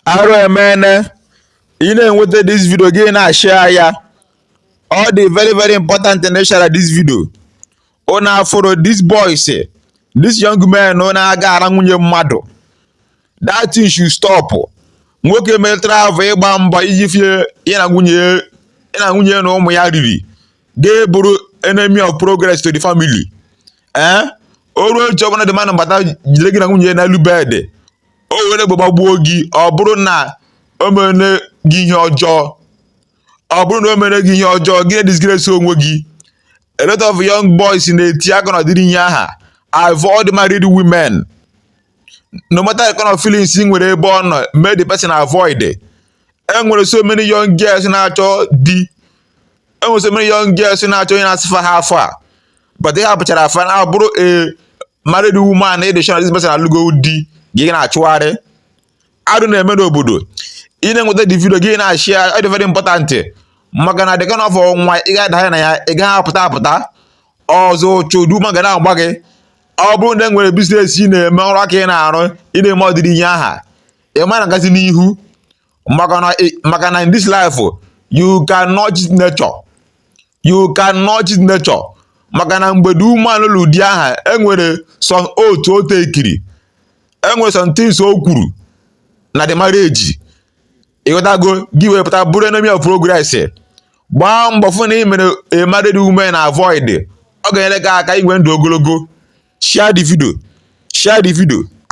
arụ emene ị na-enweta this video gị na-ashare ya ọ dị very very important na ịshare this video unu afụrụ this boys this young man na-aga ara nwunye mmadụ that thing should stop nwoke metara ahụ ịgba mbọ iji fie ya na nwunye ya na nwunye na ụmụ ya riri gị abụrụ enemy of progress to the family ee o ruo echi ọbụla di mmadụ abata jide gị na nwunye ya n'elu bed o were egbe gbagbuo gị ọ bụrụ na o mere gị ihe ọjọọ ọ bụrụ na o mere gị ihe ọjọọ gị na-edisgrace onwe gị a lot of young boys na-eti aka n'ụdịrị ihe aha avoid married women no matter the kind of feelings ị nwere ebe ọ nọ mee the person avoid e nwere so many young girls na-achọ di e nwere so many young girls na-achọ onye na-asị fa how far but ị hapụchara fa na abụrụ a married woman ị dịchara this person alụgo di gị na-achụgharị arụ na-eme n'obodo ị na-enweta the video gị na-ashare ya ọ dị very important maka na the kind of nwa ị ga-adanye na ya ị gaghị apụta apụta ọzọ chodu ma ga na-agba gị ọ bụrụ na e nwere biznes ị na-eme ọrụ aka ị na-arụ ị na-eme ụdịrị ihe aha ị ma na-agazi n'ihu maka na in this life you cannot cheat nature you cannot cheat nature maka na mgbe the woman lụrụ di aha enwere some oath o takiri enwere some things o kwuru na the marriage ị ghọtago gị wee pụta bụrụ enemy of progress gbaa mbọ fụ na ị mere a married woman avoid ọ ga-enyere gị aka inwe ndụ ogologo share the video share the video